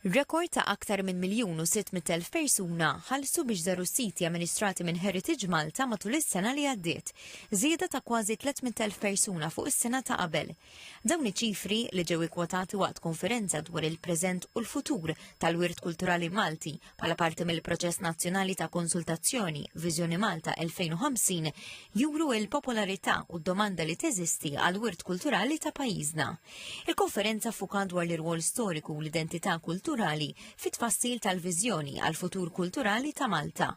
Rekord ta' aktar minn miljun u sitt mitt elf persuna ħallsu biex żaru s-siti amministrati minn Heritage Malta matul is-sena li għaddiet, żieda ta' kważi tliet mitt elf persuna fuq is-sena ta' qabel. Dawn iċ-ċifri, li ġew ikkwotati waqt konferenza dwar il-preżent u l-futur tal-wirt kulturali Malti Bħala parti mill-proċess nazzjonali ta' konsultazzjoni Viżjoni Malta 2050 juru l-popolarità u d-domanda li teżisti għal wirt kulturali ta' pajjiżna. Il-konferenza fuka dwar l-irwol storiku u l-identità kulturali fit tfassil tal-viżjoni għal futur kulturali ta' Malta.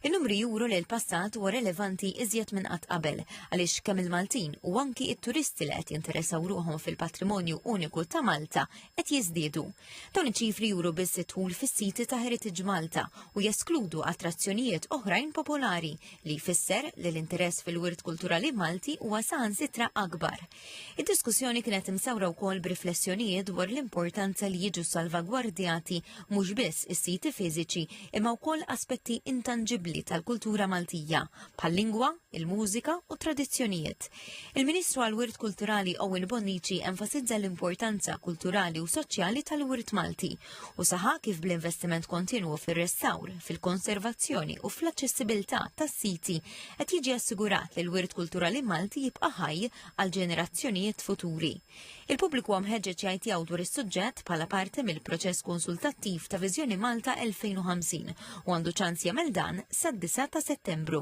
Il-numri juru li l-passat huwa relevanti iżjed minn qatt qabel għaliex kemm il-Maltin u anki it-turisti li qed jinteressaw ruħhom fil-patrimonju uniku ta' Malta qed jiżdiedu. Dawn iċ-ċifri juru biss it-tul fis-siti ta' Heritage Malta u jeskludu attrazzjonijiet oħrajn popolari li jfisser li l-interess fil-wirt kulturali Malti huwa saħansitra akbar. Id-diskussjoni kienet imsawra wkoll b'riflessjonijiet dwar l-importanza li jiġu salvagwardjati mhux biss is-siti fiżiċi imma wkoll aspetti intanġibbli tal-kultura Maltija bħal-lingwa, il-mużika u t-tradizzjonijiet. Il-Ministru għall-Wirt Kulturali Owen Bonnici enfasizza l-importanza kulturali u soċjali tal-wirt Malti u saħa kif bl-investiment kontinwu fir-restawr, fil-konservazzjoni u fl-aċċessibilità tas-siti qed jiġi assigurat li l-wirt kulturali Malti jibqa' ħaj għal ġenerazzjonijiet futuri. Il-pubbliku huwa mħeġġeġ jgħid tiegħu dwar is-suġġett bħala parti mill-proċess konsultattiv ta' Viżjoni Malta 2050 u għandu ċans jagħmel dan sad-9 ta' Settembru.